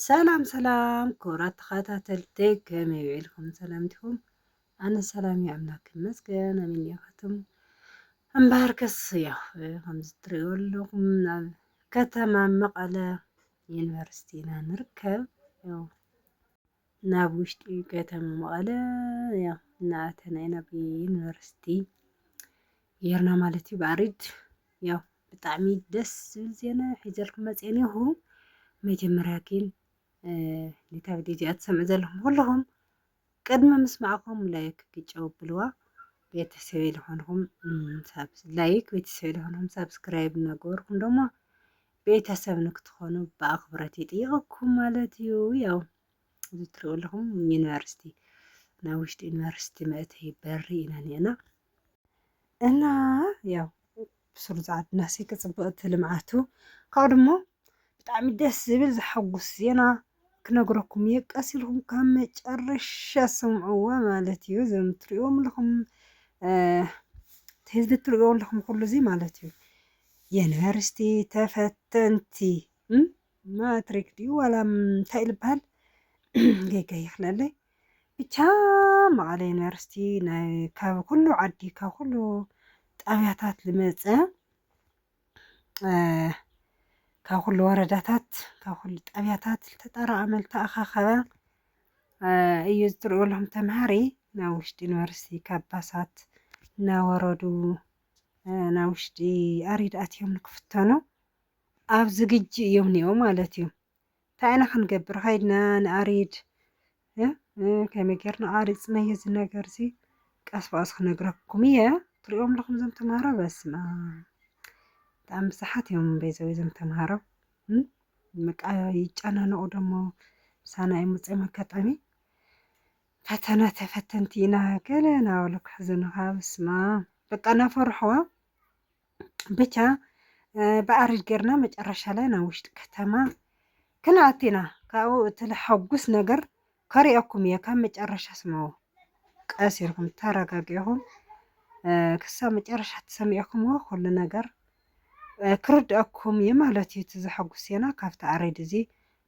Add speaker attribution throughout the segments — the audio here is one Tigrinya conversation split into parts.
Speaker 1: ሰላም ሰላም ክቡራት ተኸታተልቲ ከመይ ውዒልኩም ሰላም ዲኹም? ኣነ ሰላም እዩ ኣምላክ ይመስገን ኣሜን ያኸትም እምበሃርከስ ያው ከምዚ ትሪእዎ ኣለኹም ናብ ከተማ መቐለ ዩኒቨርሲቲ ኢና ንርከብ ያው ናብ ውሽጢ ከተማ መቐለ ያው እናኣተና ኢና ብዩኒቨርሲቲ ጌርና ማለት እዩ ብኣሪድ ያው ብጣዕሚ ደስ ዝብል ዜና ሒዘልኩም መፅየ ኔኹ መጀመርያ ግን ነታ ቪድዮ እዚኣ ትሰምዑ ዘለኹም ኩልኹም ቅድሚ ምስማዕኹም ላይክ ግጨው ብልዋ ቤተሰበይ ዝኾንኹም ላይክ ቤተሰበይ ዝኾንኹም ሳብስክራይብ እናገበርኩም ደሞ ቤተሰብ ንክትኾኑ ብኣኽብረት ይጥይቐኩም ማለት እዩ። ያው እዚ ትሪኡ ኣለኹም ዩኒቨርሲቲ ናይ ውሽጢ ዩኒቨርሲቲ መእተይ በሪ ኢና ኒዕና እና ያው ብሱሩ ዛዓት ናሲ ክፅብቕቲ ልምዓቱ ካብኡ ድሞ ብጣዕሚ ደስ ዝብል ዘሐጉስ ዜና ክነግረኩም እየ ቀስ ኢልኩም ካብ መጨረሻ ስምዕዋ ማለት እዩ እዞም ትሪእዎም ኣለኹም ህዝቢ ትሪእዎ ኣለኹም ኩሉ እዚ ማለት እዩ ዩኒቨርሲቲ ተፈተንቲ ማትሪክ ድዩ ዋላ እንታይ እዩ ዝበሃል ጌጋ ይኽለለይ ብቻ መቐለ ዩኒቨርሲቲ ናይ ካብ ኩሉ ዓዲ ካብ ኩሉ ጣብያታት ዝመፀ ካብ ኩሉ ወረዳታት ካብ ኩሉ ጣብያታት ዝተጠራቐመ ዝተኣኻኸበ እዩ ዝትሪኡ ኣለኹም ተምሃሪ ናብ ውሽጢ ዩኒቨርሲቲ ካብ ባሳት እናወረዱ ናብ ውሽጢ ኣሪድ ኣትዮም ንክፍተኑ ኣብ ዝግጅእ እዮም ኒኦ ማለት እዩ እንታይ ኢና ክንገብር ከይድና ንኣሪድ ከመይ ጌርና ኣሪፅናዮ እዚ ነገር እዚ ቀስ ብቐስ ክነግረኩም እየ ትሪኦም ኣለኹም እዞም ተምሃሮ በስመ ብጣዕሚ ብዙሓት እዮም ቤዘው እዞም ተምሃሮ በቃ ይጨናነቑ ደሞ ምሳና እዮም ውፅኦም ኣጋጣሚ ፈተና ተፈተንቲ ኢና ገለ ናበሉ ክሕዝኑኻ በስመ በቃ እናፈርሕዋ ብቻ ብኣርጅ ጌርና መጨረሻ ላይ ናብ ውሽጢ ከተማ ክንኣቲ ኢና ካብኡ እቲ ልሐጉስ ነገር ከሪኦኩም እየ ካብ መጨረሻ ስምዑ ቀስ ኢልኩም ተረጋጊኹም ክሳብ መጨረሻ ተሰሚዕኩምዎ ኩሉ ነገር ክርድአኩም እዩ ማለት እዩ። እቲ ዘሐጉስ ዜና ካብቲ ኣሬድ እዚ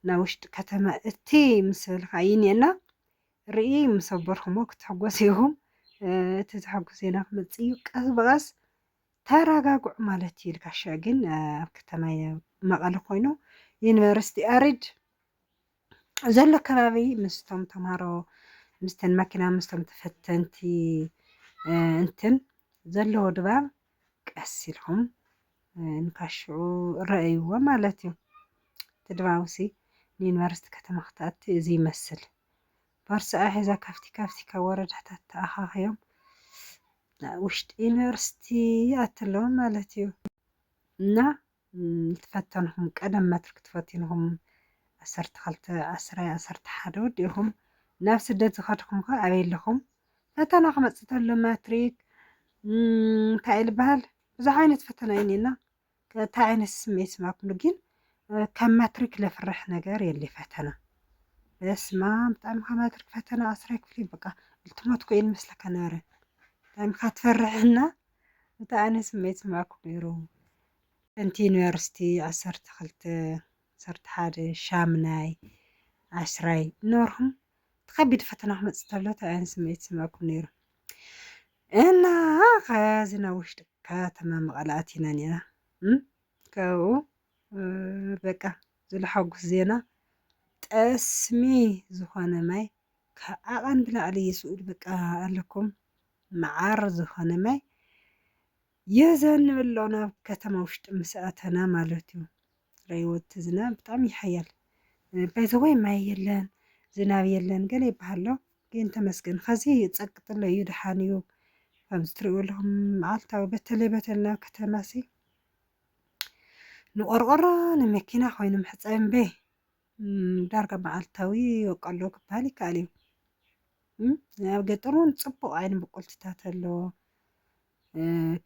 Speaker 1: ናብ ውሽጢ ከተማ እቲ ምስብል ካይኒ እና ርኢ ምስ ኣበርኩሞ ክትሕጎሱ ኢኹም። እቲ ዝሓጉ ዜና ክመፅእ እዩ ቀስ ብቀስ ተረጋግዑ ማለት እዩ ልካሸ ግን ኣብ ከተማ መቐለ ኮይኑ ዩኒቨርሲቲ ኣሪድ ዘሎ ከባቢ ምስቶም ተምሃሮ ምስተን መኪና ምስቶም ተፈተንቲ እንትን ዘለዎ ድባብ ቀስ ኢልኩም ንካሽዑ ረእይዎ ማለት እዩ እቲ ድባብሲ ንዩኒቨርሲቲ ከተማ ክትኣቲ እዚ ይመስል ቦርስኣ ሒዛ ካብቲ ካብቲ ካብ ወረዳታት ተኣኻኺቦም ናብ ውሽጢ ዩኒቨርሲቲ ይኣቱ ኣለዉ ማለት እዩ እና ትፈተንኹም ቀደም መትርክ ትፈቲንኹም ዓሰርተ ክልተ ዓስራይ ዓሰርተ ሓደ ወዲእኹም ናብ ስደት ዝኸድኹም ከ ኣበይ ኣለኹም ፈተና ክመፅእ ተሎ ማትሪክ እንታይ እዩ ዝበሃል ብዙሕ ዓይነት ፈተና እዩ እኒኤና እንታይ ዓይነት ስምዒት ስማኩሉ ግን ካብ ማትሪክ ለፍርሕ ነገር የለ ፈተና በስማም ብጣዕሚ ካብ ማትሪክ ፈተና ኣስራይ ክፍሊ በቃ ልትሞት ኮይን መስለካ ነበረ ብጣዕሚ ካብ ትፈርሕና እንታይ ዓይነት ስምዒት ስማኩ ነይሩ እንቲ ዩኒቨርሲቲ ዓሰርተ ክልተ ዓሰርተ ሓደ ሻምናይ ዓስራይ ኖርኩም እቲ ከቢድ ፈተና ክመፅእ ተሎ እንታይ ዓይነት ስምዒት ስማኩም ነይሩ እና ከዚ ናብ ውሽጢ ከተማ መቐለ ኣቲና ነይና ካብኡ በቃ ዝለሓጉስ ዜና ጠስሚ ዝኾነ ማይ ካብ ዓቐን ብላዕሊ ይስኡድ በቃ ኣለኩም መዓር ዝኾነ ማይ የዘንብ ኣሎ ናብ ከተማ ውሽጢ ምስ ኣተና ማለት እዩ ረይወት ዝናብ ብጣዕሚ ይሓያል ባይዘወይ ማይ የለን ዝናብ የለን ገለ ይበሃሎ ግን ተመስገን ኸዚ ጸቅጥሎ እዩ ደሓን እዩ ከምዚ ትሪእዎ ኣለኹም መዓልታዊ በተለይ በተለይ ናብ ከተማ ሲ ንቆርቆሮ ንመኪና ኮይኑ መሕፀቢ እምበይ ዳርጋ መዓልታዊ ይወቀሎ ክበሃል ይከኣል እዩ ኣብ ገጠር እውን ፅቡቕ ዓይኒ ብቁልትታት ኣለዎ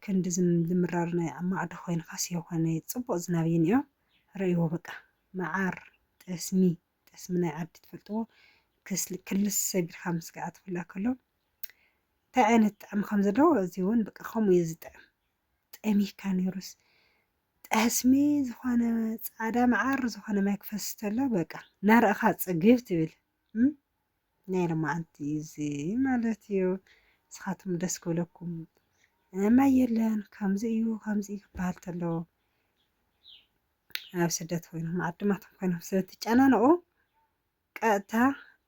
Speaker 1: ክንዲ ዝምራር ናይ ማዕዶ ኮይንካስ የኾነ ፅቡቕ ዝናብ እዩ እኒኦ ረእይዎ በቃ መዓር ጠስሚ ጠስሚ ናይ ዓዲ ትፈልጥዎ ክስል ክልስ ሰቢርካ ምስጋኣ ትፍላ ከሎ እንታይ ዓይነት ጣዕሚ ከም ዘለዎ እዚ እውን በቃ ከምኡ እዩ ዝጥዕም ጠሚካ ነይሩስ ጠስሚ ዝኾነ ፃዕዳ መዓር ዝኾነ ማይ ክፈስስ ተሎ በቃ ናርእኻ ፅግብ ትብል ናይ ሎማዓንቲ እዚ ማለት እዩ ንስኻትኩም ደስ ክብለኩም ማይ የለን ከምዚ እዩ ከምዚ እዩ ክበሃል ተሎ ኣብ ስደት ኮይኖም ዓድማቶም ኮይኖም ስለትጨናነቑ ቀጥታ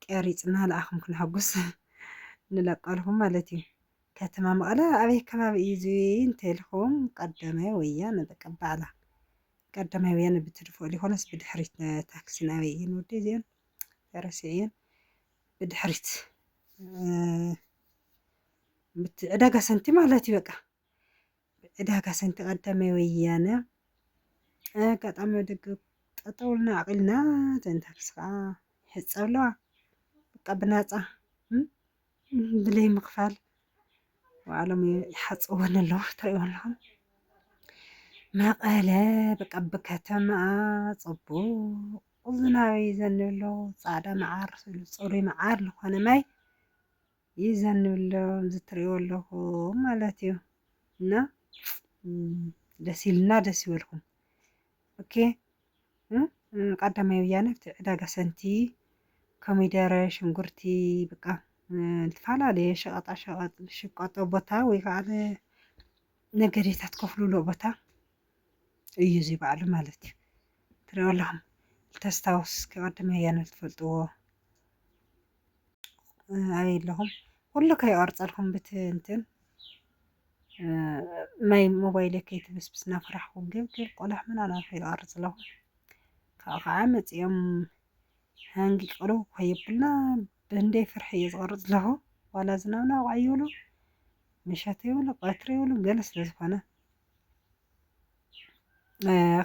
Speaker 1: ቀሪፅና ልኣኹም ክነሐጉስ ንለቀልኹም ማለት እዩ። ከተማ መቐለ ኣበይ ከባቢ እዩ እዚ እንተልኹም ቀዳማይ ወያነ በቃ ባዕላ ቀዳማይ ወያነ ብትድፍኦ ሊኾነስ ብድሕሪት ታክሲ ናበይ እየን ወዲ እዚአን ረሲዐየን ብድሕሪት ዕዳጋ ሰንቲ ማለት እዩ በቃ ዕዳጋ ሰንቲ ቀዳማይ ወያነ ኣጋጣሚ ኣብ ደገ ጠጠው ኢልና ኣቂልና እተን ታክሲ ከዓ ይሕፀብ ኣለዋ በቃ ብናፃ ብለይ ምክፋል ባዕሎም ይሓፅብወን ኣለዉ ትሪእዎ ኣለኹም መቐለ በቃ ብከተማኣ ፅቡቅ ዝናበይ ዘንብሎ ፃዕዳ መዓር ስሉ ፅሩይ መዓር ዝኾነ ማይ ይዘንብሎም እዚ ትርእይዎ ኣለኹም ማለት እዩ እና ደስ ኢልና ደስ ይበልኩም ኦኬ ቀዳማይ ወያነ ኣብቲ ዕዳጋ ሰንቲ ኮሚደረ ሽንጉርቲ በቃ ዝተፈላለየ ሸቐጣ ሸቐጥ ዝሽቀጦ ቦታ ወይ ከዓ ነገዴታት ከፍልሎ ቦታ እዩ እዚ በዓሉ ማለት እዩ ትሪኦ ኣለኹም ተስታውስ ቀዳማይ ወያነ ትፈልጥዎ ኣየለኹም ኩሉ ከይቆርፀልኩም ብትንትን ማይ ሞባይለ ከይትብስብስ ናፍራሕኩ ግብግብ ቆላሕ ምናና ከይቆርፅ ኣለኹ ካብኡ ከዓ መፂኦም ሃንጊ ቅርብ ከይብልና ብእንደይ ፍርሒ እየ ዝቆርፅ ኣለኹ ዋላ ዝናብና ዋዕ ይብሉ ምሸት ይብሉ ቀትሪ ይብሉ ገለ ስለ ዝኾነ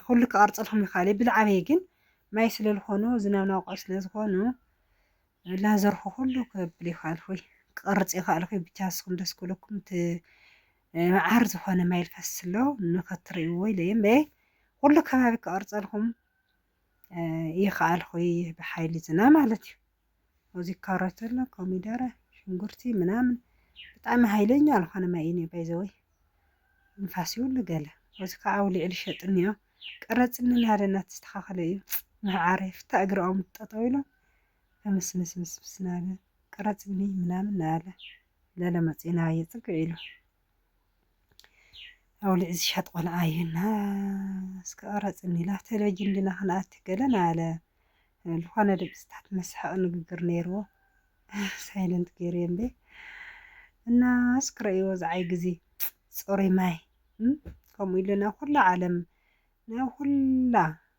Speaker 1: ኩሉ ክቐርፀልኩም ይኽእል እዩ ብልዓበይ ግን ማይ ስለ ዝኾኑ ዝናብ ናውቅዑ ስለ ዝኾኑ ላዘርኩ ኩሉ ክብል ይኽእል ኹይ ክቐርፅ ይኽእል ኹይ ብቻ ንስኹም ደስ ክብለኩም እቲ መዓር ዝኾነ ማይ ልፈስስ ኣሎ ንኸትርእይዎ ኢለ እየ እምበይ ኩሉ ከባቢ ክቐርፀልኩም ይኸኣልኹ ብሓይሊ ዝና ማለት እዩ እዚ ካሮት ኣሎ ኮሚደረ ሽንጉርቲ ምናምን ብጣዕሚ ሃይለኛ ዝኾነ ማይ እዩ ባይዘወይ ንፋስ ይብሉ ገለ እዚ ከዓ ኣውሊዕ ልሸጥኒ እዮ ቀረፅኒ ናደ እናተስተኻኸለ እዩ ምዕዓረ ፍታ እግሪ ኦም ጠጠው ኢሎም ምስምስምስምስ ናለ ቀረፅኒ ምናምን ናለ ለለ መፅኡ ናባየ ፅግዕ ኢሉ ኣውሊዕ ዝሻጥ ቆልዓ እዩና እስከ ቀረፅኒ ኢላ ቴሌቪዥን እንድና ክንኣቲ ገለን ኣለ ዝኾነ ድምፅታት መሳሓቂ ንግግር ነይርዎ ሳይለንት ገይረ እምበ እና እስኪ ረእይዎ ዝዓይ ግዜ ፅሩይ ማይ ከምኡ ኢልና ኩላ ዓለም ናይ ኩላ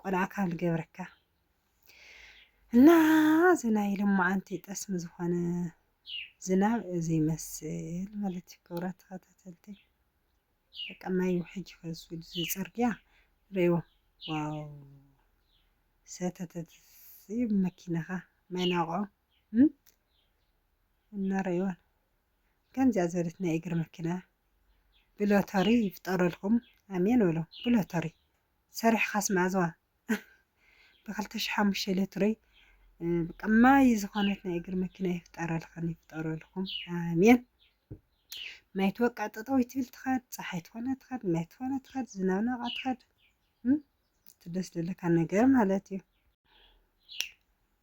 Speaker 1: ቆልዓ ካብ ዝገብረካ እና እዚ ናይ ልማዓንቲ ጠስሚ ዝኾነ ዝናብ እዚ ይመስል ማለት እዩ። ክብራት ተኸታተልቲ በቃ ማይ ውሕጅ ይፈሱ እዚ ፅርግያ ሪእዎ ዋው ሰተተት ይብ መኪናኻ ማይ ናውቕዑ እና ሪእዎን ከምዚያ ዘለት ናይ እግር መኪና ብሎተሪ ይፍጠረልኩም ኣሜን በሎ ብሎተሪ ሰሪሕኻስ መኣዝዋ ብክልተ ሽሕ ሓሙሽተ ለትሮይ በቃ ማይ ዝኾነት ናይ እግሪ መኪና ይፍጠረልኽን ይፍጠረልኩም ኣሜን። ማይ ትወቅዕ ጠጠው ትብል ትኸድ ፀሓይ ትኾነ ትኸድ ማይ ትኾነ ትኸድ ዝናብ ናብኣ ትኸድ እቲ ደስ ዝብለካ ነገር ማለት እዩ።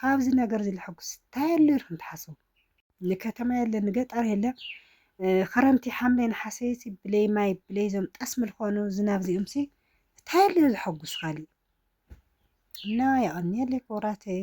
Speaker 1: ካብዚ ነገር እዚ ልሐጉስ ታይ ኣሎ ኢልኩም ትሓስቡ? ንከተማ የለ ንገጠር የለ ኽረምቲ ሓምለ ነሓሰ ሲ ብለይ ማይ ብለይ ዞም ጠስሚ ልኾኑ ዝናብ ዚኦም ሲ ታይ ኣሎ ዘሐጉስ ኻሊእ እና የቐንየለይ ክቡራተይ።